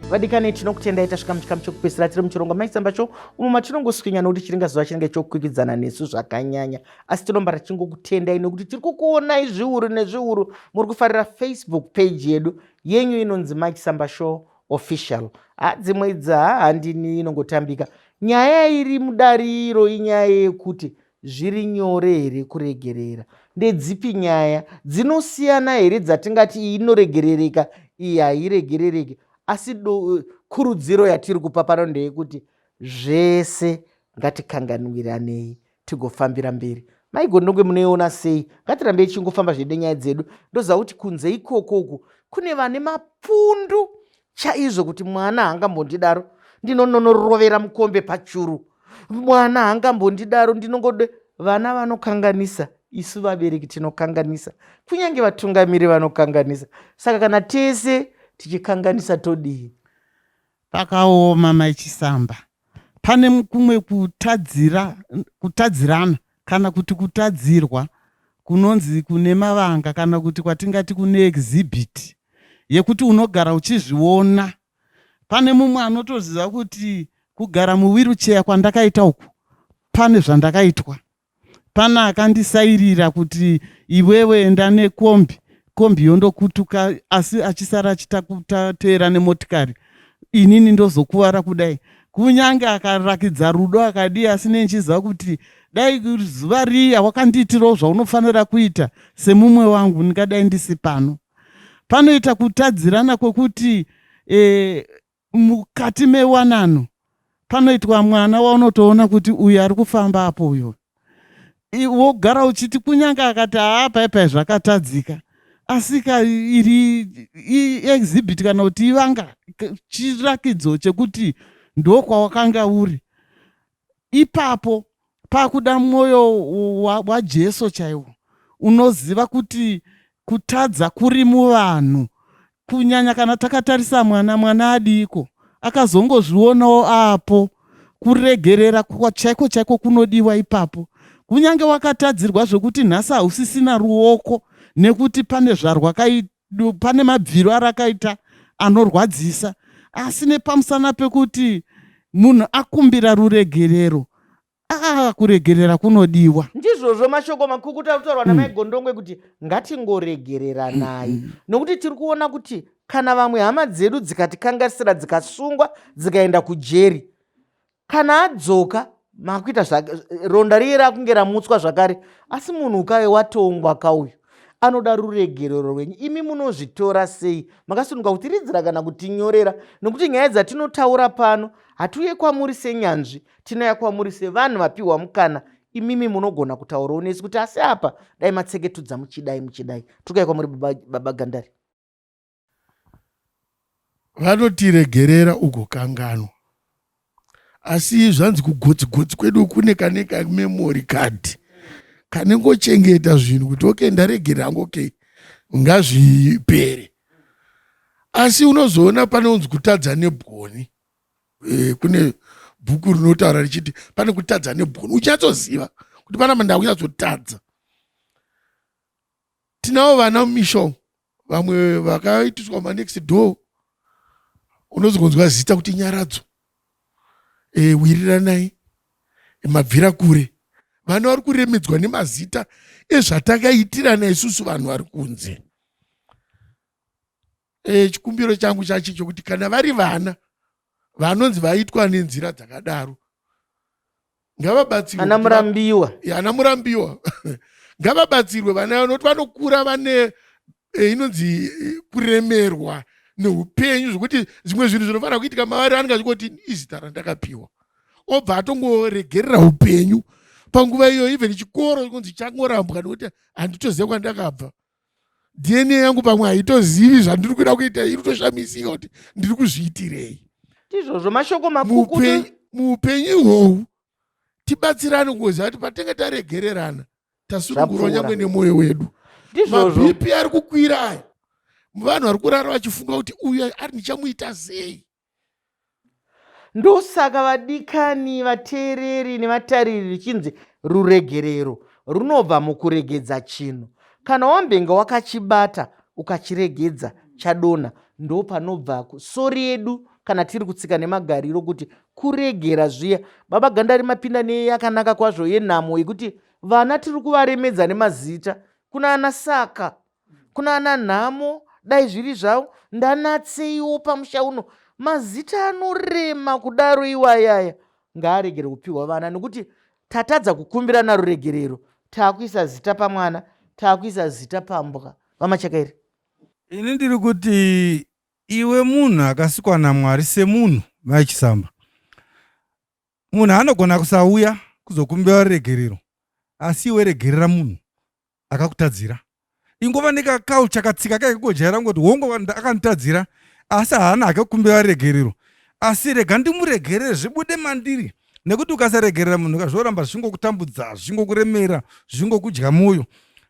vadikani tinokutendai tasvika muchikamu chekupedzisira tiri muchirongo maisambacho umo matinongoswinya nokuti chiringa zuva chinenge chokwikidzana nesu zvakanyanya asi tinomba rachingokutendai nokuti tiri kukuonai zviuru nezviuru muri kufarira facebook page yedu yenyu inonzi maisamba show official ha dzimwe idzi ha handini inongotambika nyaya iri mudariro inyaya yekuti Zviri nyore here kuregerera? Ndedzipi nyaya dzinosiyana here dzatingati iyi inoregerereka iyi hairegerereki? Asi kurudziro yatiri kupa pano ndeyekuti zvese ngatikanganwiranei tigofambira mberi. Mai Gondongwe munoiona sei? Ngatirambei tichingofamba zvedu nenyaya dzedu. Ndoziva kuti kunze ikoko uku kune vane mapfundu chaizvo kuti mwana haangambondidaro ndinononorovera mukombe pachuru mwana haangambondidaro ndinongode vana vanokanganisa isu vabereki tinokanganisa kunyange vatungamiri vanokanganisa saka kana tese tichikanganisa todii pakaoma maichisamba pane kumwe kutadzira kutadzirana kana kuti kutadzirwa kunonzi kune mavanga kana kuti kwatingati kune exhibit yekuti unogara uchizviona. Pane mumwe anotoziva kuti kugara muwirucheya kwandakaita uku pane zvandakaitwa. Pane akandisairira kuti iwewe enda nekombi kombi yondokutuka asi achisara achitateera nemotikari inini ndozokuvara kudai kunyange akarakidza rudo akadii asi nei ndichiziva kuti dai zuva riya wakandiitirawo zvaunofanira kuita semumwe wangu ndingadai ndisi pano panoita kutadzirana kwekuti e, mukati mewanano panoitwa mwana waunotoona kuti uyu ari kufamba apo uyo wogara uchiti kunyange akati haa paipai zvakatadzika asika iri iexhibit kana kuti ivanga chirakidzo chekuti ndokwawakanga uri ipapo pakuda mwoyo wajesu chaiwo unoziva kuti kutadza kuri muvanhu kunyanya kana takatarisa mwana mwana adiiko akazongozvionawo apo kuregerera chaiko chaiko kunodiwa ipapo kunyange wakatadzirwa zvekuti nhasi hausisina ruoko nekuti pane zvarwakaita du pane mabviro arakaita anorwadzisa asi nepamusana pekuti munhu akumbira ruregerero aa kuregerera kunodiwa ndizvozvo mashoko makukuta kutaurwa namai mm. gondongwe kuti ngatingoregereranai mm, mm. nokuti tiri kuona kuti kana vamwe hama dzedu dzikatikangasira dzikasungwa dzikaenda kujeri kana adzoka makuita zvake ronda riye rakunge ramutswa zvakare asi munhu ukaye watongwa kauyu anoda ruregerero rwenyu imi munozvitora sei makasununga kutiridzira kana kutinyorera nokuti nyaya dzatinotaura pano hatiuye kwamuri senyanzvi tinouya kwamuri sevanhu vapiwa mukana imimi munogona kutaurawo nesi kuti asi apa dai matseketudza muchidai muchidai tokaya kwamuri baba gandari Vanoti regerera ugokanganwa. Asi zvanzi kugotsi gotsi kwedu kune kane ka memory card kanengochengeta zvinhu kuti okay ndaregerera hangu okay ngazvipere. Asi unozoona pane unzi kutadza nebwoni. E, kune bhuku rinotaura richiti pane kutadza nebwoni. Uchatsoziva kuti pana mandava kunyatsotadza. Tinavo vana mumisha umu vamwe vakaitiswa manext door unozogonzwa zita kuti nyaradzo e, eh, wiriranai eh, mabvira kure vana vari kuremedzwa nemazita ezvatakaitirana isusu vanhu vari kunze e, chikumbiro changu chachi chokuti kana vari vana vanonzi vaitwa nenzira dzakadaro ngavabatsirwe ana murambiwa ana murambiwa ngavabatsirwe vana vanoti vanokura vane e, inonzi e, kuremerwa neupenyu zvokuti zvimwe zvinhu zvinofanira kuitika mavari anenge achingoti izita randakapiwa obva atongoregerera upenyu panguva iyoyo even chikoro kunzi changorambwa nekuti handitoziva kwandakabva dna yangu pamwe haitozivi zvandiri kuda kuita iri toshamisika kuti ndiri kuzviitirei ndizvozvo mashoko makukutu muupenyu ihohu tibatsirane kungoziva kuti patenge taregererana tasunungurwa nyangwe nemwoyo wedu mabp ari kukwira aya vanhu vari kurara vachifunga kuti uyo ari ndichamuita sei Ndosaka vadikani, vateereri nevatariri richinzi ruregerero runobva mukuregedza chinhu. Kana wambenge wakachibata ukachiregedza chadonha ndopanobva sori yedu kana tiri kutsika nemagariro kuti kuregera zviya. Baba Gandari mapinda neyakanaka kwazvo yenhamo yekuti vana tiri kuvaremedza nemazita kunana saka kunana nhamo dai zviri zvavo ndanatseiwo pamusha uno mazita anorema kudaro iwayaya ngaaregere kupiwa vana nekuti tatadza kukumbirana ruregerero taakuisa zita pamwana taakuisa zita pambwa vamachakairi ini ndiri kuti iwe munhu akasikwa namwari semunhu mai chisamba munhu anogona kusauya kuzokumbira ruregerero asi iwe regerera munhu akakutadzira ingova nekaculture katsika kake kojaira kungoti hongo akanditadzira asi haana hake kukumbira regerero asi rega ndimuregerere zvibude mandiri nekuti ukasaregerera munhu kazvoramba zvingokutambudza zvingokuremera zvingokudya mwoyo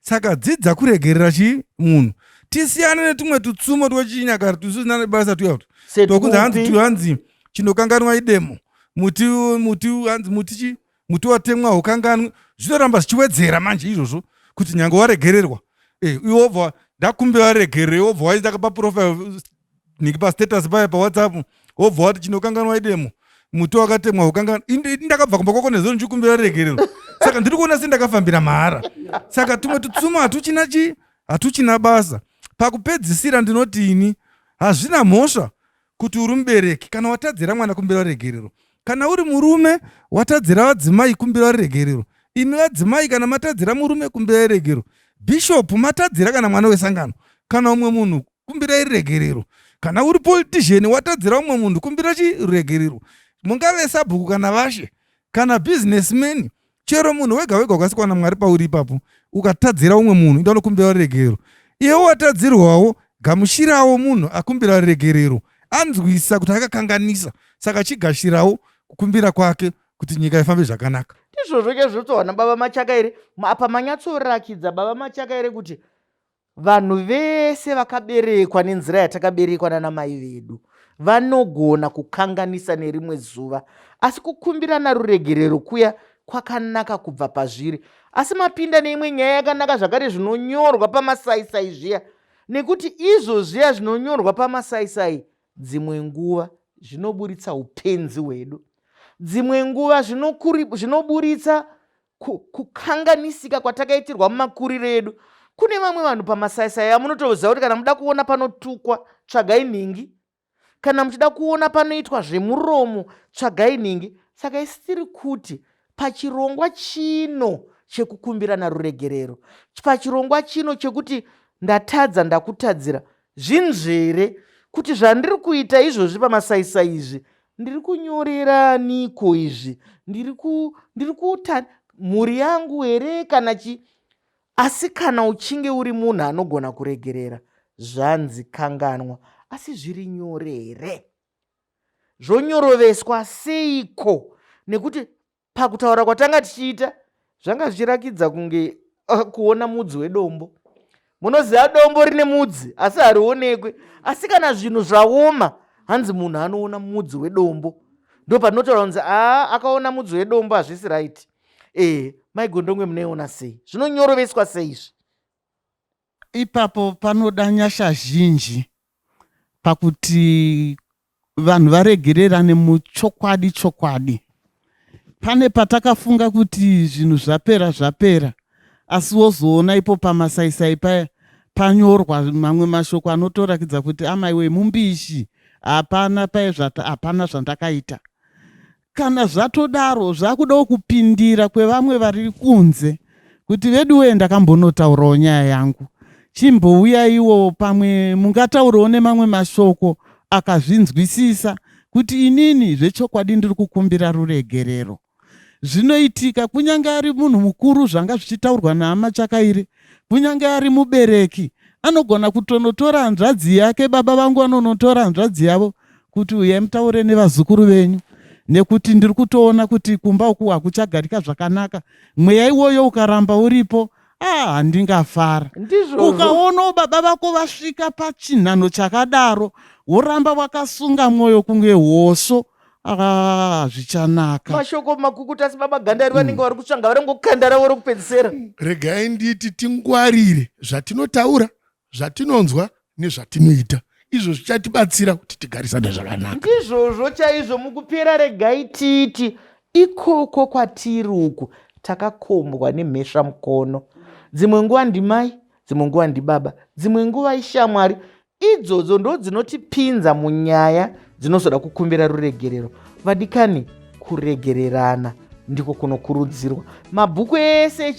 saka dzidza kuregerera chii munhu tisiyane netumwe tutsumo twechinyakare tusina nebasa tuyautu tokunzi hanzi tuhanzi chinokanganwa idemo muti muti hanzi muti chii muti watemwa haukanganwe zvinoramba zvichiwedzera manje izvozvo kuti nyange waregererwa eh, iwe wobva ndakumbira waregerere wobva waita paprofile niki pastatus paya pawhatsapp wobva wati chinokanganwa idemo muti wakatemwa haukanganwe ndakabva kumba kwako nezvo ndichikumbira waregererwa saka ndiri kuona sendakafambira mahara saka tumwe tutsuma hatuchina chii hatuchina basa pakupedzisira ndinoti ini hazvina mhosva kuti uri mubereki kana watadzira mwana kumbira ruregerero kana uri murume watadzira vadzimai kumbira ruregerero imi vadzimai kana matadzira murume kumbira ruregerero bhishopu matadzira kana mwana wesangano kana umwe munhu kumbirai ruregerero kana uri politician watadzira umwe munhu kumbira chiruregerero mungave sabhuku kana vashe kana businessman chero munhu wega wega ukasikwa namwari pauri ipapo ukatadzira umwe munhu ida unokumbira ruregerero iyewo watadzirwawo gamushirawo munhu akumbira ruregerero anzwisa kuti akakanganisa saka chigashirawo kukumbira kwake kuti nyika ifambe zvakanaka ndizvozvo chazvotsohwa nababa machaka ere apa manyatsorakidza baba machaka ere kuti Vanhu vese vakaberekwa nenzira yatakaberekwa nana mai vedu vanogona kukanganisa nerimwe zuva, asi kukumbirana ruregerero kuya kwakanaka kubva pazviri. Asi mapinda neimwe nyaya yakanaka zvakare zvinonyorwa pamasaisai zviya, nekuti izvo zviya zvinonyorwa pamasaisai dzimwe nguva zvinoburitsa upenzi hwedu, dzimwe nguva zvinoburitsa kukanganisika kwatakaitirwa mumakuriro edu kune vamwe vanhu pamasaisai amunotoziva kuti kana muda kuona panotukwa tsvagai nhingi kana muchida kuona panoitwa zvemuromo tsvagai nhingi saka isi tiri kuti pachirongwa chino chekukumbirana ruregerero pachirongwa chino chekuti ndatadza ndakutadzira Zvinzvere kuti zvandiri kuita izvozvi pamasaisai izvi ndiri kunyorera niko izvi ndiri ku ndiri kuta mhuri yangu here kana chi asi kana uchinge uri munhu anogona kuregerera zvanzi kanganwa asi zviri nyore here zvonyoroveswa seiko nekuti pakutaura kwatanga tichiita zvanga zvichirakidza kunge uh, kuona mudzi wedombo munoziva dombo rine mudzi asi harionekwe asi kana zvinhu zvaoma hanzi munhu anoona mudzi wedombo ndo patinotaura kunzi aa akaona mudzi wedombo hazvisi right ee eh, maigondongwe munoiona sei zvinonyoroveswa sei izvi Ipapo panoda nyasha zhinji pakuti vanhu varegererane muchokwadi chokwadi. Pane patakafunga kuti zvinhu zvapera zvapera asi wozoona ipo pamasaisai paya panyorwa mamwe mashoko anotorakidza kuti amaiwe mumbishi hapana paye hapana zvandakaita Kana zvatodaro zvakudawo kupindira kwevamwe vari kunze kuti veduwee ndakambonotaurawo nyaya yangu chimbouyaiwo pamwe mungataurawo nemamwe mashoko akazvinzwisisa kuti inini zvechokwadi ndiri kukumbira ruregerero. Zvinoitika kunyange ari munhu mukuru zvanga zvichitaurwa naama Chakaire, kunyange ari mubereki anogona kutonotora hanzvadzi yake, baba vangu vanonotora hanzvadzi yavo kuti uyai mutaure nevazukuru venyu nekuti ndiri kutoona kuti kumba uku hakuchagarika zvakanaka mweya iwoyo ukaramba uripo ah handingafara ukaonawo baba vako vasvika pachinhanho chakadaro woramba wakasunga mwoyo kunge hoso Ah, zvichanaka mashoko makukuta asi baba gandari vanenge hmm. vari kutsvanga vari ngokandara vori kupedzisera regai nditi tingwarire zvatinotaura zvatinonzwa nezvatinoita izvo zvichatibatsira kuti tigarisane zvakanaka ndizvozvo chaizvo mukupera regai tiiti ikoko kwatiri uku takakombwa nemhesva mukono dzimwe nguva ndimai dzimwe nguva ndibaba dzimwe nguva ishamwari idzodzo ndodzinotipinza munyaya dzinozoda kukumbira ruregerero vadikani kuregererana ndiko kunokurudzirwa mabhuku ese